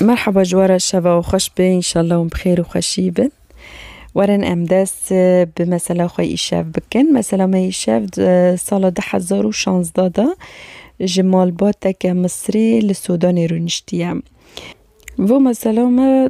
Merhaba ji we re şeva û xweş be înşallah hûn bi xêr û xweşî bin. Werin em dest bi mesela xwe îşev bikin. Mesela me îşev sala du hezar û şanzda de ji malbateke Misirê li Sudanê rûniştiye. Vê mesela me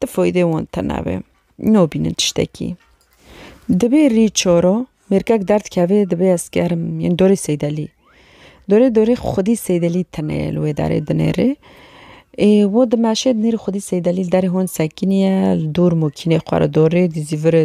Ti foydê wan tena be. Nobînin tiştekî. Dibê rî çoro mêrkek derdikeve dibê ez gerim yên dorê Seydelî. Dorê dorê xwedî Seydelî tene ye li wê darê dinêrê. Ê wo di meşê dinêrê xwedî Seydelî li derê hon sekînî ye li dûr mokînê xwe re dorê dîzî virê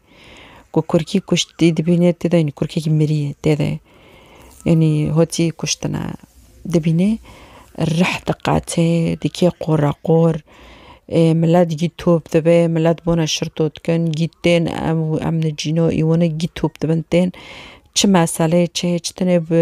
Ku kurkî kuştî dibînê tê de yanî kurkekî mirîyê tê de yanî hotî kuştina dibînê rih diqate dike qoreqor ê milet gît top dibe milet bona şirtotkin gît tên em û em nicîno î wina gît top dibin tên çi meseleyê çi hê çi tune bi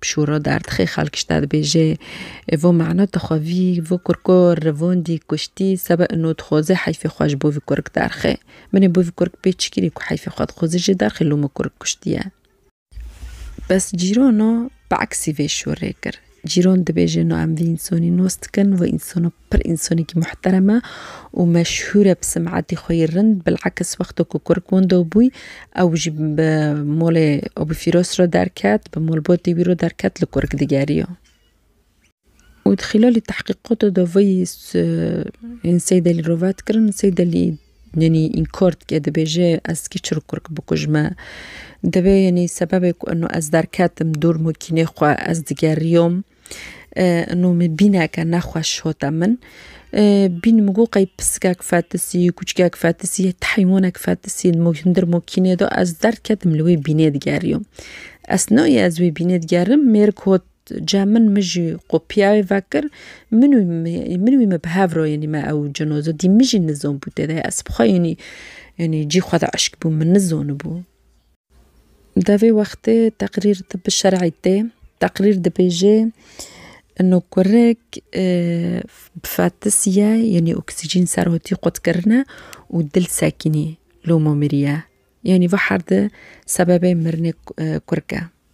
Pişûra derdixê xelk ji te dibêje Vo mena te xwe vî, vo kurko revandî, kuştî, sebe ino dixwaze heyfê xwe ji bo vî kurk derxe. Min ê bo vî kurk pê çi kirî ku heyfê xwe dixwaze jê derxe lû min kurk kuştiye. Bes cîrana bi eksî vê şûrê kir. Cîran dibêje no em vî însanî nas dikin, vî însan Pir însanekî muhterem e û meşhûr e bi sim'etî xwe yê rind. Bil'aks wexta ku kurk wenda bûy ew jî bi malê Abû Fîras re derket, bi malbatê wî re derket li kurk digeriya. Û di xîlalî tehqîqata de vê yê yên Seyd Elî re vet kirin. Seyd Elî yanî înkar dike dibêje ez tikê çirok kurk bikujme. Divê yanî sebebê ku eno ez derketim dûr makînê xwe ez digeriyam. Ino min bîneke nexweş hate min. Bîn min got qey pisikek fetisî, kûçikek fetisî, ti heywanek fetisî hindir mokînê de ez derketim li wê bînê digeriyom. Ez nayê ez wê bînê digerim mêrik hot cem min min jî qopîya wê vekir min û min wî me bi hev re yanî me ew cinoze dî min jî nizanibû tê de ez bi xwe yanî yanî cî xwe de eşkbûm min nizanibû. Devê wextê teqrîr tib bi şer'î tê. Teqrîr dibêje ino kurek bi fetisiye yanî oksîcîn ser otî qut kirine û dil sekînî loma miriye. Yanî vihar di sebebê mirinê kurke.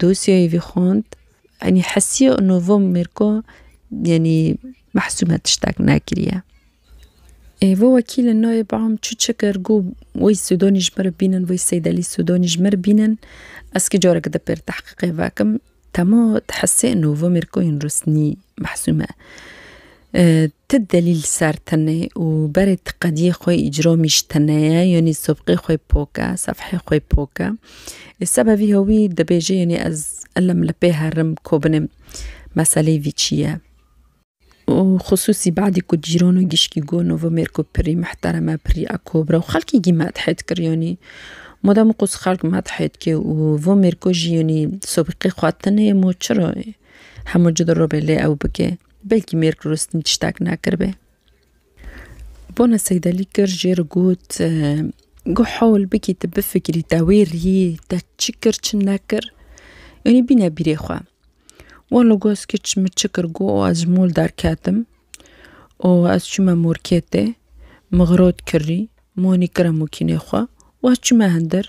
Dosyayê vî xwend enî hesiya Novo Mirko yenî mehsûme tiştek nekiriye. Êvo wekîlê nayê bam çi çi kir got wê Sûdanî ji min re bînin wê Seydelî Sûdanî ji min re bînin ez kî careke di pêr tehqîqê vekim. Dema di hesê Novo Mirkoyên rûsnî mehsûme. Ti delîl ser tenê û berê ti qediyê xwe îcro mîş tenê ye, yanî sobqê xwe pok e, sefhê xwe pok e. Sebe vî hewî dibêje yanî ez ilim li pê herim ko binêm meselê vî çi ye. Û xusûsî badî ku cîran û gişkî got Novomêr ku pirî mihterem e, pirî ekobir e û xelkî gî medhê dikir yanî madem wekû xelk medhê dike û van mêr ku jî yanî sobqê xwe tenê mo çira hemû cî di robê lê ew bike. Belkî mêrg rûstîn tiştek nekiribê. Bona Seydelî kir jê re got, Guh hewl bikî tu bifikirî te wê rî te çi kir çi nekir. Yanî bîne bîrê xwe. Walo goz kiç min çi kir got û ez ji mol derketim û ez çûme morketê, min xirot kirî. Monî kira mokînê xwe û ez çûme hindir.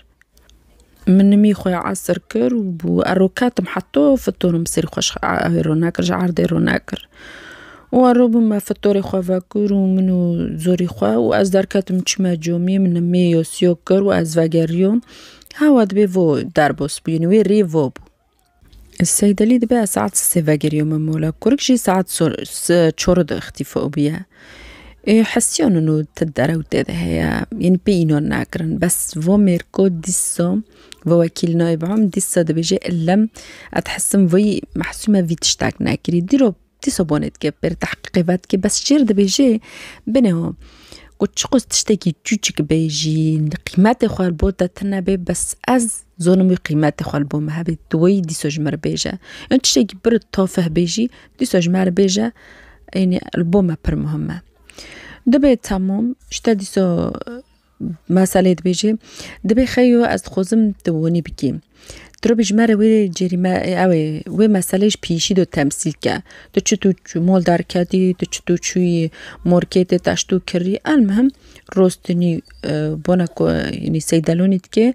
Min nimî xwe esir kir û bû ero ketim heto fitorim bi serî xwe rona kir ji erdê rona kir û ero bûm me fitorê xwe vekur û min û zorî xwe û ez derketim çûme comî min nimî yosîyo kir û ez vegerîyom hewa dibê vo derbas bûyî wê rê vo bû. Seydelî dibe ez saet sê vegeriyo min mola kurik jî saet çor di ixtî fo biye. Ê hesiyo nino ti derew tê de heye yanî pê înan nakirin bes vo mêrko dîsa vo wekîl nayê biham dîsa dibêje illem ez dihesim vî mehsûme vî tiştak nekirî dîrop Dîsa bonê dike pir tehqîqê vedike bes çêr dibêje binê ho. Ku çiqas tiştekî çûçik bê jî qîmetê xwe li bo te tune bê bes ez zonim wî qîmetê xwe li bo me hebê tu weyî dîsa ji me re bêje. Yan tiştekî pir tafeh bê jî dîsa ji me re bêje ênî li bo me pir muhim e. Dibê temam ji te dîsa Meselê dibêjê, Dibê xeyo ez dixwazim tu wanî bikî. Tu re bijimere wê cerîme ew ê wê meseleyê ji piyişî de temsîl ke. Tu çi tu mal derg kedî, tu çi tu çûyî marketê teş tu kirî. Elmuhim rostinî bona ku seydelonî dike.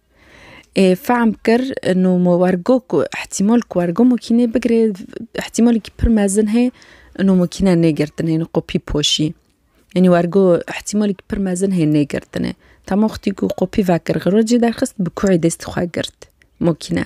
Fehm kir no me wergo ku îhtîmal ku wergo makînê bigire îhtîmalekî pir mezin heye no makîne negirtinê no qopî poşî. Enî wergo îhtîmalekî pir mezin heye negirtinê. Dema xwitî ku qopî vekir xirocî derxist bi kurê destê xwe girt makîne.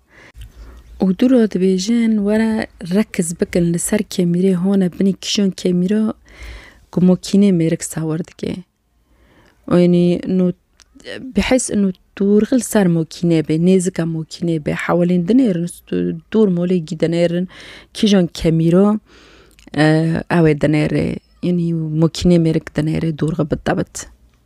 Û du re dibêjin were rekiz bikin li ser kêmîrê hone binî kîjan kêmîra ku makînê mêrik sawir dike. Enî no bihis no tûrxil li ser makîne bê nêzika makînê bê hewlên dinêrin dûr malê gî dinêrin kîjan kemîra ew ê dinêrê enî makînê mêrik dinêrê dûr xwe bi tewt.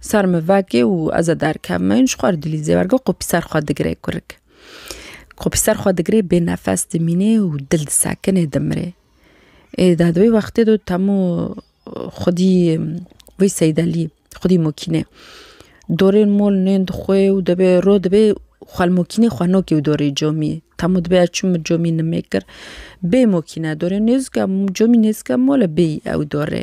Ser min veke û ez ê derkevim. Ji xwe re dilî zêwer ke qopî ser xwe digire kurik. Qopî ser xwe digirê bê nefes dimînê û dil disekinê dimirê. Ê de di wê wextê de temû xwedî wê seydelî xwedî mokîne. Dorên mol nên dixwe û dibê rû dibê xwe li mokînê xwe nokê û dorê comî. Temû dibê ez çûm min comî nimêkir bê mokîne dorê nêzika comî nêzika mol e bêyî ew dorê.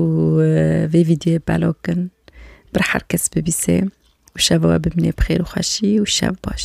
û vê vîdyoyê belok kin bir herkes bibîsê û şeva we bimînê bi xêr û xweşî û şev baş.